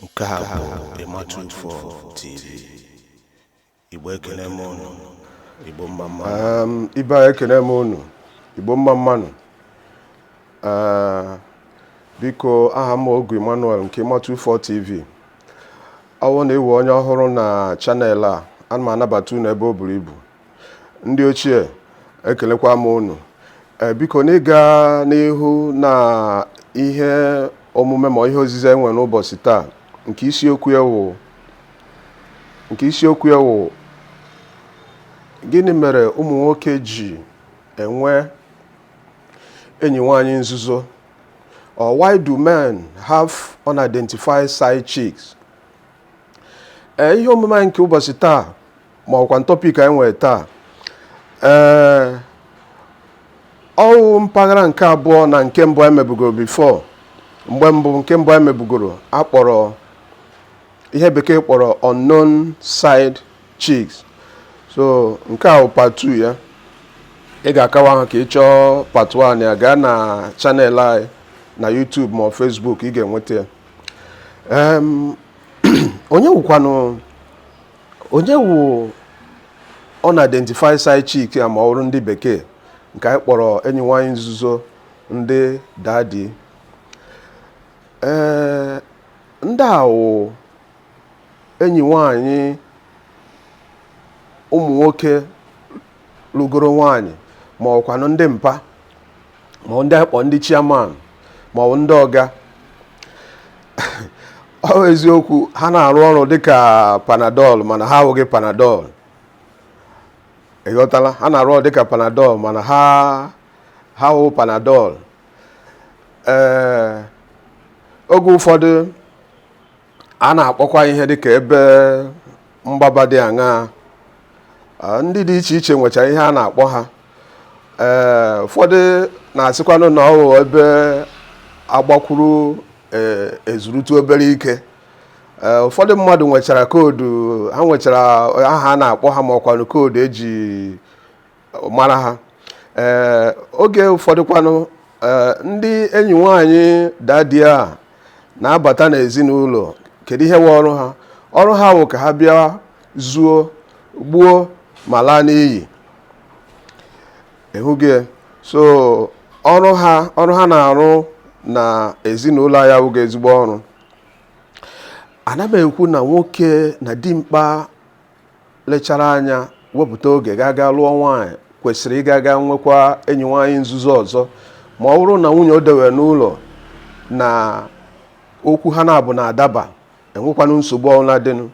nke a bụ emma two four tv igbo ekene m unu igbo mma mmanụ, ibe ekene m unu igbo mma mmanụ uh, biko aha m ogu emmanuel nke emma two four tv ọwụ na ị wụ onye ọhụrụ na channel a ana m anabata unu ebe o buru ibu ndị ochie ekelekwa m unu eh, biko n'ịga n'ihu na ihe omume ma ihe ozizi enwe n'ụbọchị taa nke isiokwu ya wụ gịnị mere ụmụ nwoke ji enwe enyi nwanyị nzuzo or why do men have unidentified side chicks eh, ihe omume anyị nke ụbọchị taa ma ọkwanụ topic anyị nwere taa ee ọwụ mpaghara nke abụọ na nke mbụ anyị mebugoro before mgbe mbụ nke mbụ anyị mebugoro akpọrọ ihe bekee kpọrọ unknown side chicks so nke a part two ya ị ga-akawa ha ka ị chọọ part one ya gaa na channel anyị na YouTube ma ọ Facebook ị ga-enweta ya onye wụkwanụ onye wụ unidentified side chick a ma ọ bụrụ ndị bekee nke anyị kpọrọ enyi nwanyị nzuzo ndị daddy ee ndị a wụ enyi nwanyị ụmụ nwoke lụgoro nwanyị ma ọkwanụ ndị mpa ma ọ wụ ndị akpọ ndị chairman ma ọ bụ ndị ọga ọ bụ eziokwu ha na-arụ ọrụ dịka panadol mana ha awụghị panadol ịghọtala ha na-arụ ọrụ dịka panadol mana ha awụghị panadol ee oge ụfọdụ a na-akpọkwa ihe dịka ebe mgbaba dị aṅaa ndị dị iche iche nwechara ihe a na-akpọ ha ee ụfọdụ na-asịkwanụ na ọ wụ ebe agbakwuru e, ezurutu obere ike ee ụfọdụ mmadụ nwechara code ha nwechara aha a na-akpọ ha ma ọkwanụ code eji mara ha ee oge ụfọdụkwanụ ee ndị enyi nwaanyị daddy a na-abata n'ezinụlọ kedu ihe wụ ọrụ ha ọrụ ha wụ ka ha bịa zuo gbuo ma laa n'iyi ị hụghị ya. so ọrụ ha ọrụ ha na-arụ na ezinụlọ ya awụghị ezigbo ọrụ ana m ekwu na nwoke na dimkpa lechara anya wepụta oge ga aga lụọ nwaanyị kwesịrị ịga aga nwekwa enyi nwaanyị nzuzo ọzọ ma ọ wụrụ na nwunye o dewe n'ụlọ na okwu ha na-abụ na-adaba enwekwanụ nsogbu ọbụla dịnụ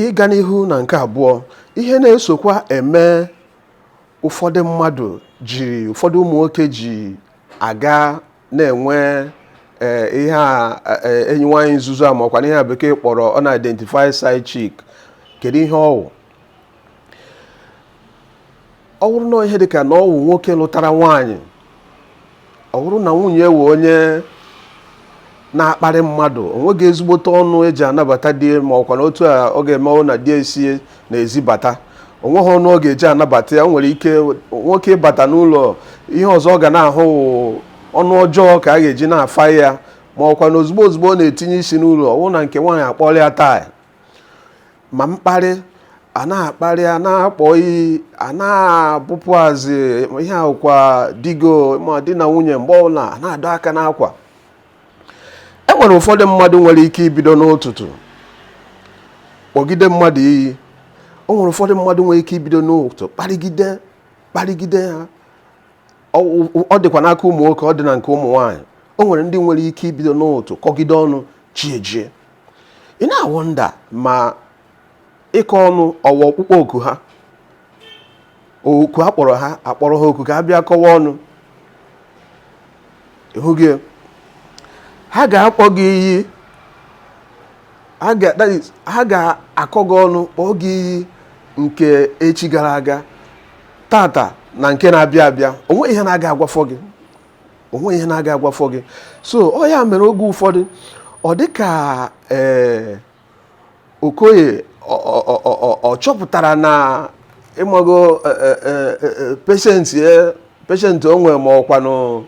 ịga n'ihu na nke abụọ ihe na-esokwa eme ụfọdụ mmadụ ji ụfọdụ ụmụ nwoke ji aga na-enwe eh, ihe a eh, enyi nwaanyị nzuzo a ma ọkwanụ ihe bekee kpọrọ unidentified side chick kedu ihe ọwụ ọ wụrụ na ihe dịka na ọwụ nwoke lụtara nwaanyị ọ wụrụ na nwunye wụ onye na-akparị mmadụ o nweghị ezigbote ọnụ eji anabata di ma ọkwanụ otu ọ ga-eme ọ wụ na di esie n'ezi bata o nweghị ọnụ ọ ga-eji anabata ya o nwere ike nwoke ịbata n'ụlọ ihe ọzọ ọ ga na-ahụ wụ ọnụ ọjọọ ka a ga-eji na-afa ya ma ọkwa na ozugbo ozugbo ọ na-etinye isi n'ụlọ ọ bụrụ na nke nwaanyị akpọrọ ya taa ma mkparị a na-akparị a na-akpọ iyi a na-abụpụazị ihe akwụkwa digo ma di na nwunye mgbe ọbụla a na-adọ aka n'akwa e nwere ụfọdụ mmadụ nwere ike ibido n'ụtụtụ kpọgide mmadụ iyi o nwere ụfọdụ mmadụ nwere ike ibido n'ụtụtụ kparịgide kparịgide ha ọ dịkwa n'aka ụmụ nwoke ọ dị na nke ụmụ nwaanyị o nwere ndị nwere ike ibido n'ụtụtụ kọgide ọnụ chi ejie ị na-awonder ma ịkọ ọnụ ọ wụ ọkpụkpọ oku ha oku akpọrọ ha akpọrọ ha oku ka ha bịa kọwa ọnụ ịhụghị ya? ha ga-akpọ gị iyi ha ga- that is, ha ga-akọ gị ọnụ kpọọ gị iyi nke echi gara aga tata na nke na-abịa abịa onwe ihe na-aga agwafọ gị onwe ihe na-aga agwafọ gị so ọ ya mere oge ụfọdụ ọ dị ka ee nwoke ọ chọpụtara na ịmago e, e, e, patience patience o nwere ma ọkwanụ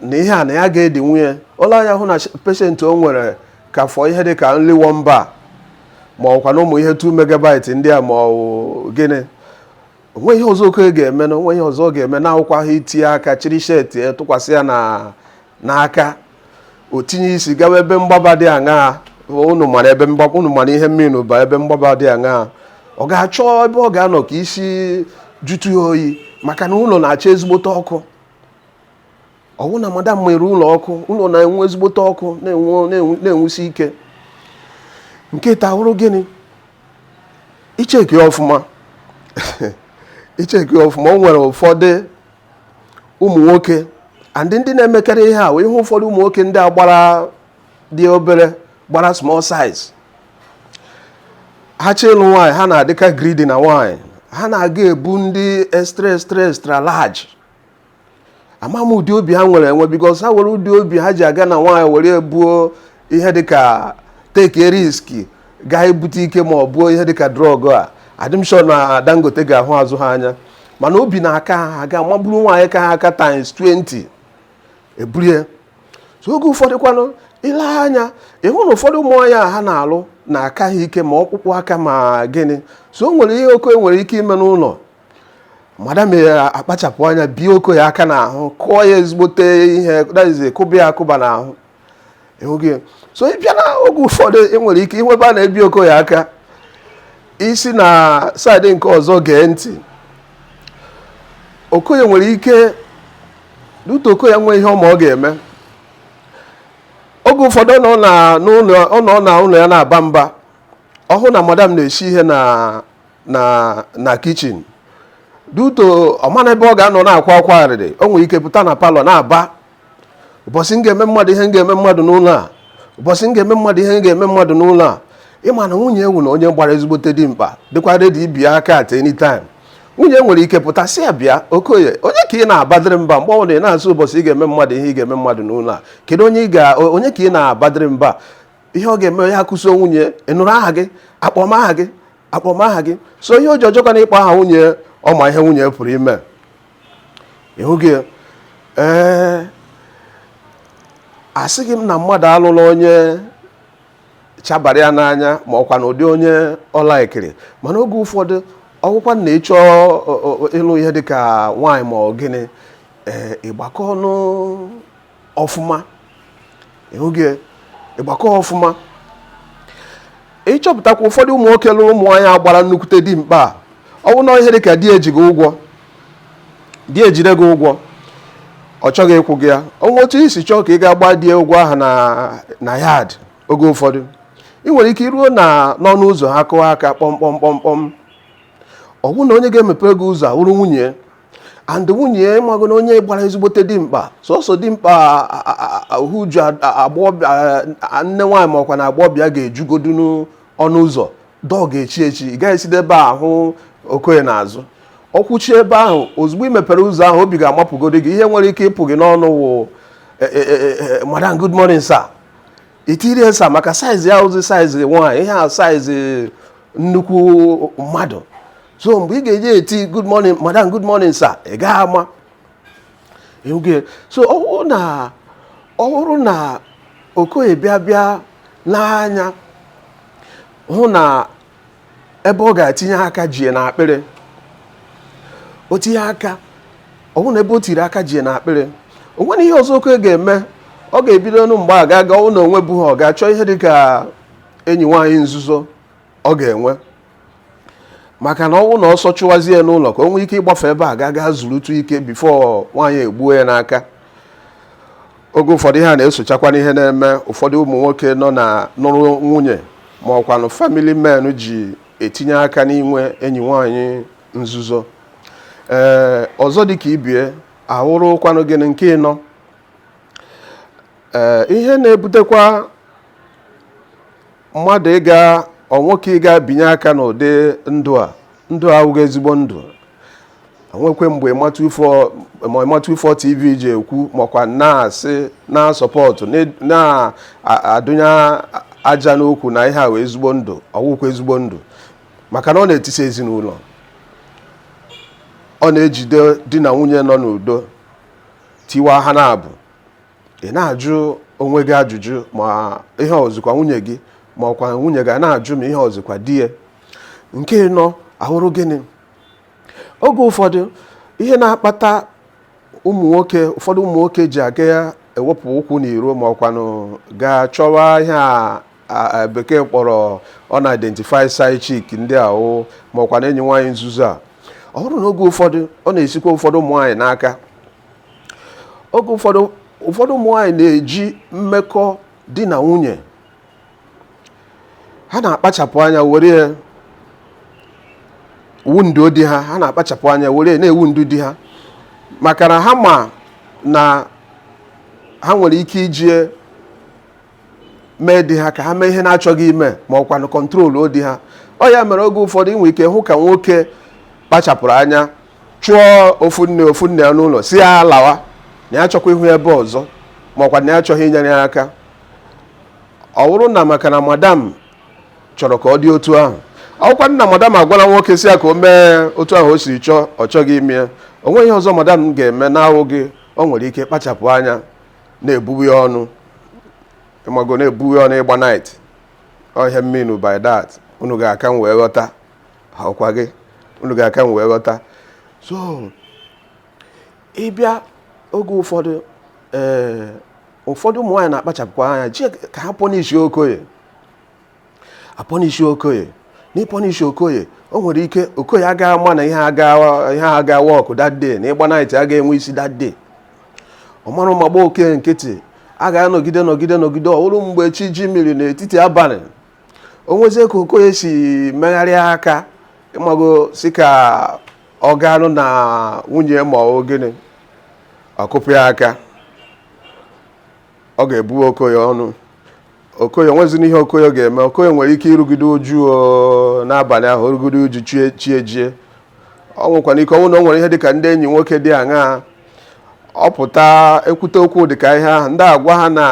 na ihe a na ya ga-edi nwunye o lee anya hụ na patience o nwere ka fọ ihe dị ka only 1 MB ma ọkwanụ ụmụ ihe 2 megabyte ndị a ma ọ gịnị onwe ihe ọzọ nwoke ga-eme na onwe ihe ọzọ ọ ga-eme na-awụkwaghị itinye aka chịrị shirt tụkwasị ya na n'aka o tinye isi gawa ebe mgbaba dị aṅaa unu mara ebe mgbaba unu mara ihe m mean by ebe mgbaba dị aṅaa ọ ga-achọ ebe ọ ga-anọ ka isi jụtụ ya oyi maka na ụlọ na-acha ezigbote ọkụ ọwụ na madam mere ụlọ ọkụ ụlọ na-enwu ezigbote ọkụ na-enwusi ike nke taa wụrụ gịnị ị checkie ya ọfụma ị checkie ọfụma o nwere ụfọdụ ụmụ nwoke and ndị na-emekarị ihe a wee ihe ụfọdụ ụmụ nwoke ndị a gbara dị obere gbara small size ha chọ ịlụ nwaanyị ha na-adịka greedy na nwaanyị ha na-aga ebu ndị extra extra extra large ama m ụdị obi ha nwere enwe because ha were ụdị obi ha ji aga na nwaanyị were ebuo ihe dịka take risk gaa ibute ike ma ọ bụ ihe dịka drug adị m sure na Dangote ga-ahụ azụ ha anya mana obi na-aka ha ga maburu nwaanyị ka ha aka times 20 ebulie so oge ụfọdụ kwanụ ị lee anya ị hụ na ụfọdụ ụmụ nwaanyị a ha na-alụ na-aka ha ike ma ọkpụkpụ aka ma gịnị so o nwere ihe Okoye nwere ike ime n'ụlọ madam ya akpachapụ anya bie Okoye aka n'ahụ kụọ ya ezigbote ihe that is kụba ya akụba n'ahụ ịhụghị so ị bịa na oge ụfọdụ ị nwere ike ịnụ ebe a na-ebi Okoye aka ị si na side nke ọzọ gee ntị Okoye nwere ike due to Okoye nwee ihe ọ ma ọ ga-eme oge ụfọdụ ọ nọ na n'ụlọ ọ nọ na ụlọ ya na-aba mba ọ hụ na madam na-esi ihe na na na kitchen due to ọ ma na ebe ọ ga-anọ na-akwa akwa arịrị o nwere ike pụta na parlour na-aba ụbọchị m ga-eme mmadụ ihe m ga-eme mmadụ n'ụlọ a ụbọchị m ga-eme mmadụ ihe m ga-eme mmadụ n'ụlọ a ị ma na nwunye wụnụ onye gbara ezigbote dimkpa dịkwa ready ibi aka at any time nwunye nwere ike pụta sị ya bịa Okoye onye ka ị na-abadịrị mba mgbe ọ bụla ị na-asị ụbọchị ị ga-eme mmadụ ihe ị ga-eme mmadụ n'ụlọ a kedu onye ka ị na-abadịrị mba ihe ọ ga-eme ya akụso nwunye ị nụrụ aha gị akpọ m aha gị akpọ m aha gị so ihe o ji ajọkwa na ịkpọ aha nwunye ọ ma ihe nwunye pụrụ ime ị hụghị ya ee asịghị m na mmadụ alụla onye chabara ya n'anya ma ọ kwanụ ụdị onye ọ na-ekiri mana oge ụfọdụ ọ wụkwa na ị chọ ịlụ ihe dịka nwaanyị ma ọ gịnị ee ị gbakọọnụ ọfụma ịhụghị ị gbakọọ ọfụma ị chọpụtakwa ụfọdụ ụmụ nwoke lụrụ ụmụ nwaanyị a gbara nnukwute dimkpa a ọ bụ na ihe dị ka di ji gị ụgwọ di ejide gị ụgwọ ọ chọghị ịkwụ gị ya o nwee otu i si chọọ ka ị ga gba di ụgwọ ahụ na na yard oge ụfọdụ ị nwere ike iruo na n'ọnụ ụzọ ha kụọ aka kpọmkpọmkpọmkpọm ọ bụrụ na onye ga-emepe gị ụzọ awụrụ nwunye and nwunye mago na onye gbara ezigbote dimkpa sọsọ dimkpa uju nne nwaanyị ma ọ kwanụ agbọbịa ga-ejugodu n'ọnụ ụzọ door ga-echi echi ị gaghị eside ebe a hụ Okoye n'azụ ọ kwụchi ebe ahụ ozugbo ị mepere ụzọ ahụ obi ga-amapụgodi gị ihe nwere ike ịpụ gị n'ọnụ wụ e, e, e, madam good morning sir i tinye sir maka size ya ọzị size nwaanyị ihe a size nnukwu mmadụ so mgbe ị ga-eji eti good morning madam good morning sir ị gaghị ama so ọ bụrụ na ọ bụrụ na okoye bịa bịa n'anya hụ na ebe ọ ga-etinye aka jie n'akpịrị o tinye aka ọ bụrụ na ebe o tiri aka jie n'akpịrị o nwere ihe ọzọ okoye ga-eme ọ ga-ebidonụ mgbe a ga-aga ọ wụ na o nwebughị ọ ga-achọ ihe dị ka enyi nwaanyị nzuzo ọ ga-enwe maka na ọ wụ na ọsọ chụwazie n'ụlọ ka o nwee ike ịgbafe ebe a ga gaa zurutụ ike before nwaanyị egbuo ya n'aka oge ụfọdụ ihe a na-esochakwa n'ihe na-eme ụfọdụ ụmụ nwoke nọ na nụrụ nwunye ma ọkwanụ family men ji etinye aka n'inwe enyi nwaanyị nzuzo ee ọzọ dị ka ibe ya awụrụkwanụ gịnị nke ịnọ ee ihe na-ebutekwa mmadụ ịga ọ nwoke ịga binye aka n'ụdị ndụ a ndụ a awụghị ezigbo ndụ o nwekwa mgbe ịmatụ ifo tv ji ekwu ma ọkwa na-asị na-asupport na-adụnye aja n'ukwu na ihe a wụ ezigbo ndụ ọ wụkwa ezigbo ndụ maka na ọ na-etisa ezinụlọ ọ na-ejide di na nwunye nọ n'udo tiwaa ha n'abụọ ị na-ajụ onwe gị ajụjụ ma ihe ọ wụzịkwa nwunye gị ma ọkwa nwunye gị na-ajụ ma ihe ọ wụzịkwa di ya nke ịnọ awụrụ gịnị oge ụfọdụ ihe na-akpata ụmụ nwoke ụfọdụ ụmụ nwoke ji aga ewepụ ụkwụ n'iro ma ọkwanụ gaa chọwa ihe a bekee kpọrọ unidentified side chick ndị ahụ ma ọkwanụ enyi nwaanyị nzuzo a ọ bụrụ na oge ụfọdụ ọ na-esikwa ụfọdụ ụmụ nwaanyị n'aka oge ụfọdụ ụfọdụ ụmụ nwaanyị na-eji mmekọ di na nwunye ha na-akpachapụ anya were wound di ha ha na-akpachapụ anya were na-ewound di ha maka na ha ma na ha nwere ike iji mee di ha ka ha mee ihe na-achọghị ime ma ọkwa na-control di ha ọ ya mere oge ụfọdụ i nwee ike hụ ka nwoke kpachapụrụ anya chụọ ofu nne ofu nne ya n'ụlọ sị ya lawa na ya achọkwa ịhụ ya ebe ọzọ ma ọkwa na ya achọghị inyere ya aka ọ bụrụ na maka na madam chọrọ ka ọ dị otu ahụ ọkwa na madam agwala nwoke sị ya ka o mee otu ahụ o siri chọọ ọ chọghị ime ya o nweghị ihe ọzọ madam ga-eme na-awụghị o nwere ike kpachapụ anya na-ebuwe ya ọnụ ị mago na-ebuwe ya ọnụ ịgba night ọ ihe m mean by that unu ga-aka m wee ghọta ọkwa gị unu ga-aka m wee ghọta so ị bịa oge ụfọdụ ee ụfọdụ ụmụ nwaanyị na-akpachapụkwa anya ji ka ha punish okoye apọnishi okoye n'ịpọnishi okoye o nwere ike okoye agaghị ama na ihe ha ga wọkụ that day na ịgba night agaghị enwe isi that day ọ mara ụma gba okoye nkịtị a ga-anọgide nọgide nọgide ọ wụrụ mgbe chi jimiri n'etiti abalị o nwezie ka okoye si megharịa aka ị mago sị ka ọ gaanụ na nwunye ma ọ gịnị ọ kụpụ ya aka ọ ga-ebuwe okoye ọnụ okoye nweziri ihe okoye ga-eme okoye nwere ike irugide uju n'abalị ahụ o rugide uju chi ejie o nwekwara ike ọ wụ na o nwere ihe dịka ndị enyi nwoke dị aṅaa ọ pụta ekwute okwu dịka ihe ahụ ndị agwa ha na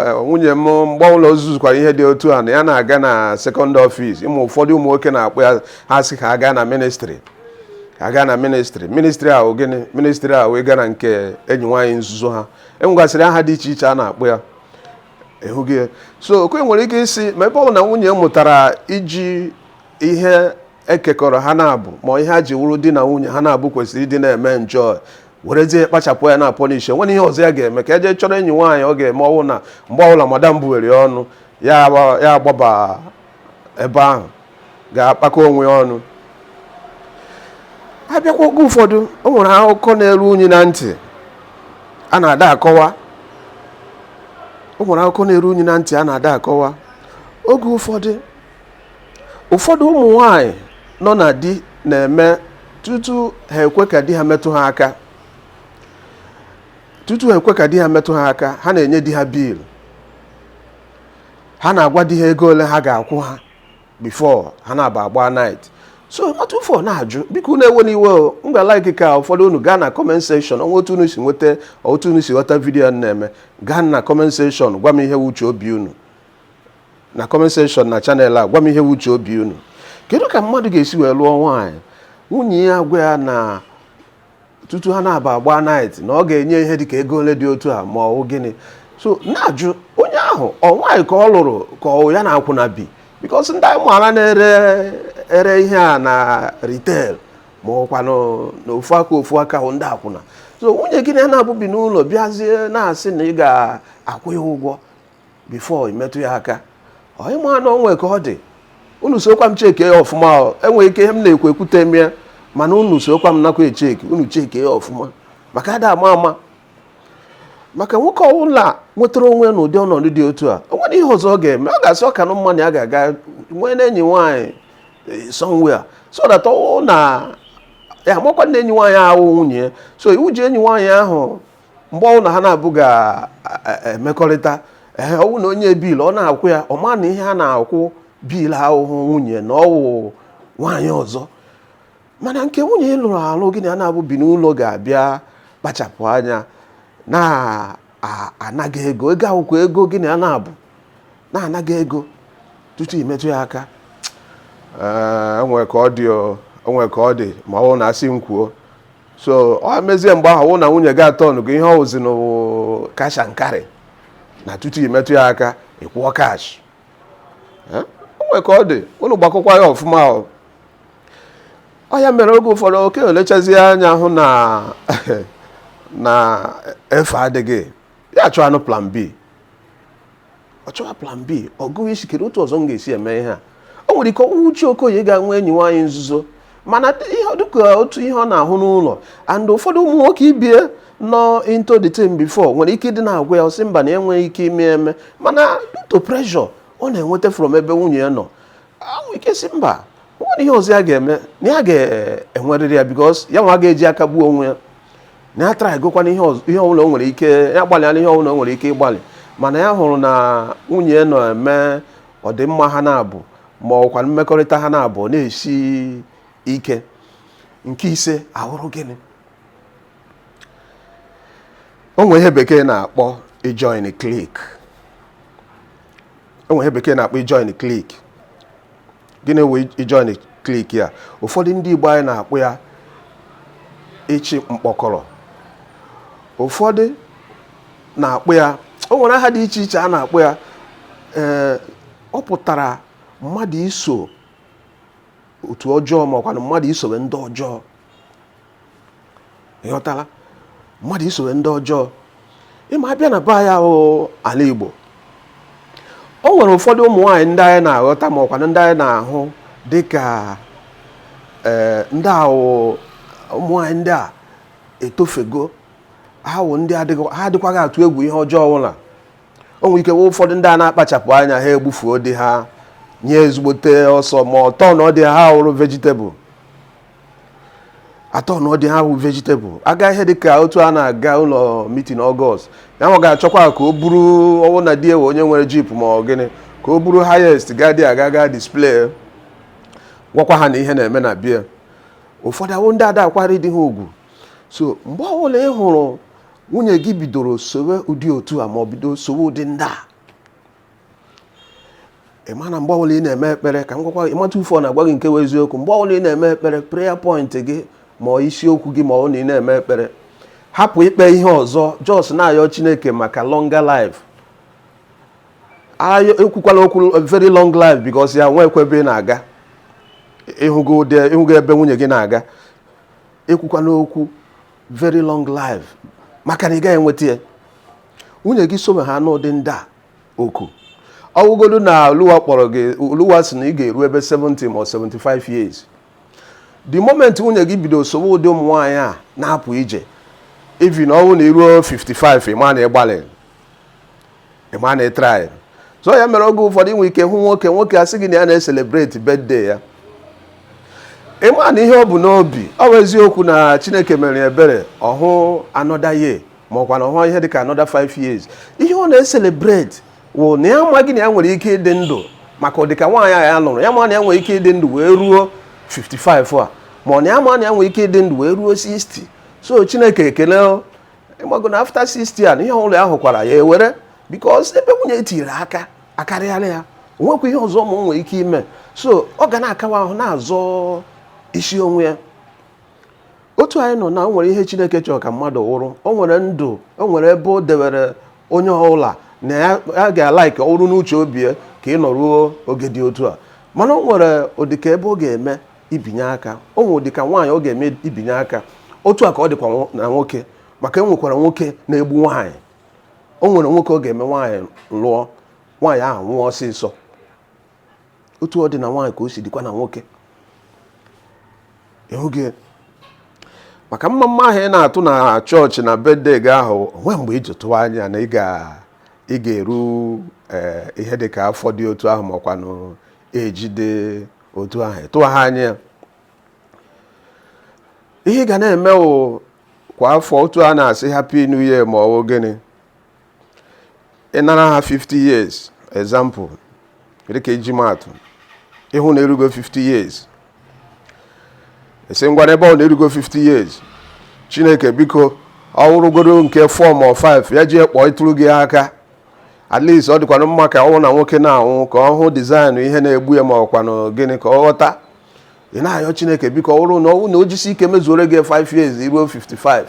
eh, nwunye m mgbe ọbụla o zuzukwara ihe dị otu a na ya na-aga na second office ị ma ụfọdụ ụmụ nwoke na-akpọ ya ha sị ka ha gaa na ministry aga na ministry ministry a wụ gịnị ministry a wụ ịga na nke enyi nwaanyị nzuzo ha e nwegasịrị aha dị iche iche a na-akpọ ya ị hụghị ya so okoye nwere ike ịsị ma ebe ọ bụ na nwunye mụtara iji ihe e kekọrọ ha naabọ ma ihe ha ji wụrụ di na nwunye ha naabọ kwesịrị ịdị na-eme enjoy werezie kpachapụ anya na-apọnishi nwere ihe ọzọ ya ga-eme ka eje chọrọ enyi nwaanyị ọ ga-eme ọ wụ na mgbe ọbụla madam buwere ọnụ ya agbaba ebe ahụ ga-akpakọ onwe ya ọnụ a bịakwa oge ụfọdụ o nwere akụkọ na-eru anyị na ntị a na-ada akọwa o nwere akụkọ na-eru anyị na ntị a na-ada akọwa oge ụfọdụ ụfọdụ ụmụ nwaanyị nọ na di na-eme tutu ha ekwe ka di ha metụ ha aka tutu ha ekwe ka di ha metụ ha aka ha na-enye di ha bill ha na-agwa di ha ego ole ha ga-akwụ ha before ha naabọ agba night so otu ụfọ na-ajụ biko unu ewena iwe o m ga-alaiki ka ụfọdụ unu gaa na comment section ọ wụ otu unu si nweta otu unu si ghọta vidiyo a m na-eme gaa na comment section gwa m ihe wụ uche obi unu na comment section na channel a gwa m ihe wụ uche obi unu kedu ka mmadụ ga-esi wee lụọ nwaanyị nwunye ya agwa ya na tutu ha naabọ agba night na ọ ga-enye ihe dịka ego ole dị otu a ma ọ wụ gịnị so na-ajụ onye ahụ ọ nwaanyị ka ọ lụrụ ka ọ ya na akwụna bi because ndị anyị maara na-ere ihe a na retail ma ọ kwa n'ofu aka ofu aka wụ ndị akwụna so nwunye gị na ya naabọ bi n'ụlọ bịazie na-asị na ị ga-akwụ ya ụgwọ before i metụ ya aka onye ma na o nwe ka ọ dị unu sokwa m cheke ya ọfụma e nwere ike ihe m na-ekwu ekwute m ya mana unu sokwa m nakwa echeki unu cheke ya ọfụma maka ada ama ama maka nwoke ọbụla nwetara onwe ya n'ụdị ọnọdụ dị otu a o nwere ihe ọzọ ọ ga-eme ọ ga-asị ọ kanụ mma na ya ga-aga nwee na enyi nwaanyị eh, somewhere so that ọ na ya amakwa na enyi nwaanyị ahụ nwunye ya so iwu ji enyi nwaanyị ahụ mgbe ọbụla ha na-abụ ga- a- a- emekọrịta ee ọwụ na o nye bill ọ na-akwụ ya ọ ma na ihe a na-akwụ bill awụhụ nwunye na ọwụ nwaanyị ọzọ mana nke nwunye ị lụrụ alụ gị na ya na-abụ bi n'ụlọ ga-abịa kpachapụ anya na-ana gị ego ego a wụkwa ego gị na ya na-abụ na-ana gị ego tutu i metụ ya aka Ee, o nwe ka ọ dị o, o nwe ka ọ dị ma ọ bụrụ na asị m kwuo so ọ mezie mgbe ahụ wụ na nwunye gị atọnụgo ihe ọwụzi na cash and carry na tutu i metụ ya aka ị kwụọ cash o nwere ka ọ dị ụnụ gbakọkwa ya ọfụma ọ ọ ya mere oge ụfọdụ nwoke lechazie anya hụ na na efe adịghị ya chọwanụ plan b ọ chọwa plan b ọ gụwa isi kedu otu ọzọ m ga-esi eme ihe a o nwere ike ọwụhụ uche ka ya gaa nwee enyi nwaanyị nzuzo mana due to ihe ọ na-ahụ n'ụlọ and ụfọdụ ụmụ nwoke ibe ya nọ into the team before nwere ike ịdị na-agwa ya ọ sị mba na ya enweghị ike ime eme mana due to pressure ọ na-enweta from ebe nwunye ya nọ o nwere ike sị mba o nwere ihe ọzọ ya ga-eme na ya ga-enwerịrị ya because ya nwa ga-eji aka gbuo onwe ya na ya atraịgokwanụ ihe ọzọ- ihe ọbụla o nwere ike ya gbalịala ihe ọbụla o nwere ike ịgbalị mana ya hụrụ na nwunye ya na-eme ọdịmma ha na-abụ ma ọkwanụ mmekọrịta ha na-abụ na-esi ike nke ise awụrụ gịnị o nwere ihe bekee na-akpọ ijoin clique o nwe ihe bekee na-akpọ ijoin clique gịnị wụ ijoin clique ya ụfọdụ ndị Igbo anyị na-akpọ ya ịchị mkpọkọrọ ụfọdụ na-akpọ ya o nwere aha dị iche iche a na-akpọ ya ee ọ pụtara mmadụ iso otu ọjọọ ma ọkwanụ mmadụ isowe ndị ọjọọ ịghọtala mmadụ isowe ndị ọjọọ ịma abịa na be anyị ahụ ala Igbo o nwere ụfọdụ ụmụ nwaanyị ndị anyị na-aghọta ma ọkwanụ ndị anyị na-ahụ dịka ee eh, ndị ahụ ụmụ nwaanyị ndị a etofego ha wụ ndị ha adịkwaghị atụ egwu ihe ọjọọ ọbụla o nwere ike ụfọdụ ndị a na-akpachapụ anya ha egbufuo di ha nye ezigbote ọsọ ma ọ tọnụọ di ha ha wụrụ vegetable atọnụọ di ha wụ vegetable aga ihe dịka otu a na-aga ụlọ meeting August ya nwa ga-achọkwa ka o buru ọwụ na di ya wụ onye nwere jeep ma ọ gịnị ka o buru highest gaa dị aga gaa display gwakwa ha na ihe na-eme na be ya ụfọdụ awụ ndị ada akwanyere di ha ugwu so mgbe ọbụla ị hụrụ nwunye gị bidoro sowe ụdị otu a ma ọ bido sowe ụdị ndị a ị ma na mgbe ọbụla ị na-eme ekpere ka m gwakwa ịmata ufe ọ na-agwa gị nke bụ eziokwu mgbe ọbụla ị na-eme ekpere prayer point gị ma ọ isiokwu gị ma ọ na ị na-eme ekpere hapụ ikpe ihe ọzọ just na-ayọ chineke maka longer life ekwukwala okwu very long life because ya nwekwa ebe ị na-aga ịhụgo ebe nwunye gị na-aga ekwukwala okwu very long life maka na ị gaghị enweta ya nwunye gị sobe ha n'ụdị ndị a oku ọwụgodu na oluwa kpọrọ gị oluwa sị na ị ga-eru ebe 70 ma 75 years the moment nwunye gị bido sowe ụdị ụmụ nwaanyị a na-apụ ije even ọ wụ na i ruo 55 ị ma na ịgbalị ịma na ị try so ya mere oge ụfọdụ inwe ike hụ nwoke nwoke asị gị na ya na-eselebreti birthday ya ịma na ihe o bu n'obi ọ bụ eziokwu na chineke mere ebere ọ hụ another year ma ọkwa na ọ hụ ihe dịka another 5 years ihe ọ na-eselebreti wụ na ya amaghị na ya nwere ike ịdị ndụ maka ụdịka nwaanyị a ya lụrụ ya ma na ya nwere ike ịdị ndụ wee ruo 55 a ma ọ na ya ma na ya nwere ike ịdị ndụ wee ruo 60 so chineke ekele ịmago na after 60 a na ihe ọbụla ya hụkwara ya ewere because ebe nwunye tinyere aka akarịala ya o nwekwa ihe ọzọ mụ nwere ike ime so ọ ga na-akawa ahụ na-azọ isi onwe ya otu anyị nọ na o nwere ihe chineke chọrọ ka mmadụ wụrụ o nwere ndụ o nwere ebe o dewere onye ọbụla na ya ya ga-alaiki ọ wụrụ n'uche obi ya ka ị nọruo oge dị otu a mana o nwere ụdịka ebe ọ ga-eme ibinye aka o nwere ụdịka nwaanyị ọ ga-eme ibinye aka otu a ka ọ dịkwa na nwoke maka e nwekwara nwoke na-egbu nwaanyị o nwere nwoke ọ ga-eme nwaanyị lụọ nwaanyị ahụ nwụọ ọsịsọ otu ọ dị na nwaanyị ka o si dịkwa na nwoke ịhụghị maka mma mma ahụ ị na-atụ na chọọchị na birthday gị ahụ o nwee mgbe i ji tụwa anya na ị ga-eru eh, ihe dị ka afọ dị otu ahụ makwanụ ejide otu ahụ tụwa ha anya ihe ị ga na-eme wụ kwa afọ otu a na-asị happy new year ma ọ bụ gịnị ị nara ha 50 years example dịka iji maatụ ị hụ na i rugo 50 years ị sị ngwanụ ebe ọ wụ na i rugo 50 years chineke biko ọ wụrụgodu nke 4 ma 5 ya ji kpọọ ịtụrụ gị aka at least ọ dịkwanụ mma ka ọ wụ na nwoke na-anwụ ka ọ hụ design ihe na-egbu ya ma ọkwanụ gịnị ka ọ ghọta ị na-ayọ chineke biko ọ bụrụ na ọ wụ na o jisi ike mezuore gị 5 years i ruo 55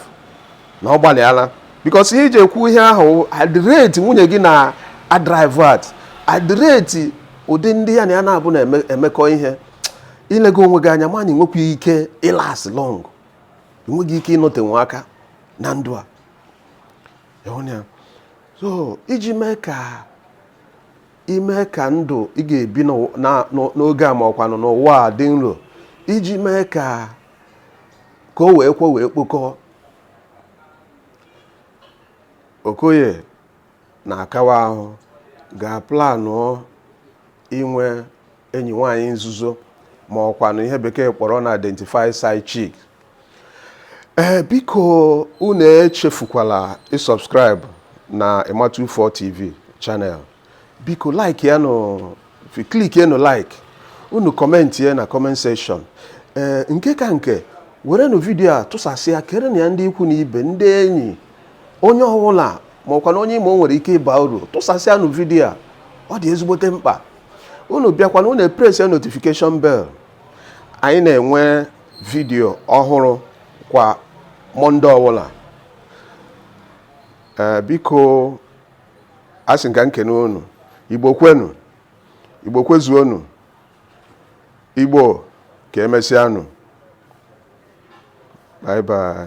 na ọ gbalịala because ihe iji ekwu ihe ahụ at the rate nwunye gị na-adrive at the rate ụdị ndị ya na ya na-abụ na-emekọ ihe ilego onwe gị anya ma na i nwekwa ike ịlast long i nweghị ike ịnọtenwe aka na ndụ a so iji mee ka ime ka ndụ ị ga-ebi n'oge a ma ọkwanụ n'ụwa a dị nro iji mee ka ka o wee kwe wee kpokọ okoye na-akawa ahụ ga-aplanụ inwe enyi nwanyị nzuzo ma ọkwanụ ihe bekee kpọrọ na identify side chick ee eh, biko unu echefukwala ịsubscribe na Ima24 TV channel biko like ya nụ click ya nụ like unu comment ya na comment section ee eh, nke ka nke werenụ vidiyo a tụsasịa kerenụ ya ndị ikwu na ibe ndị enyi onye ọwụla ma ọkwanụ onye ị ma o nwere ike ịba uru tụsasịa nụ vidiyo a ọ dị ezigbote mkpa unu bịakwanụ unu press ya notification bell anyị na-enwe vidiyo ọhụrụ kwa mọnde ọwụla ee biko asị m ka m kene unu igbo kwenu igbo kwezuonu igbo ka emesịanụ bye bye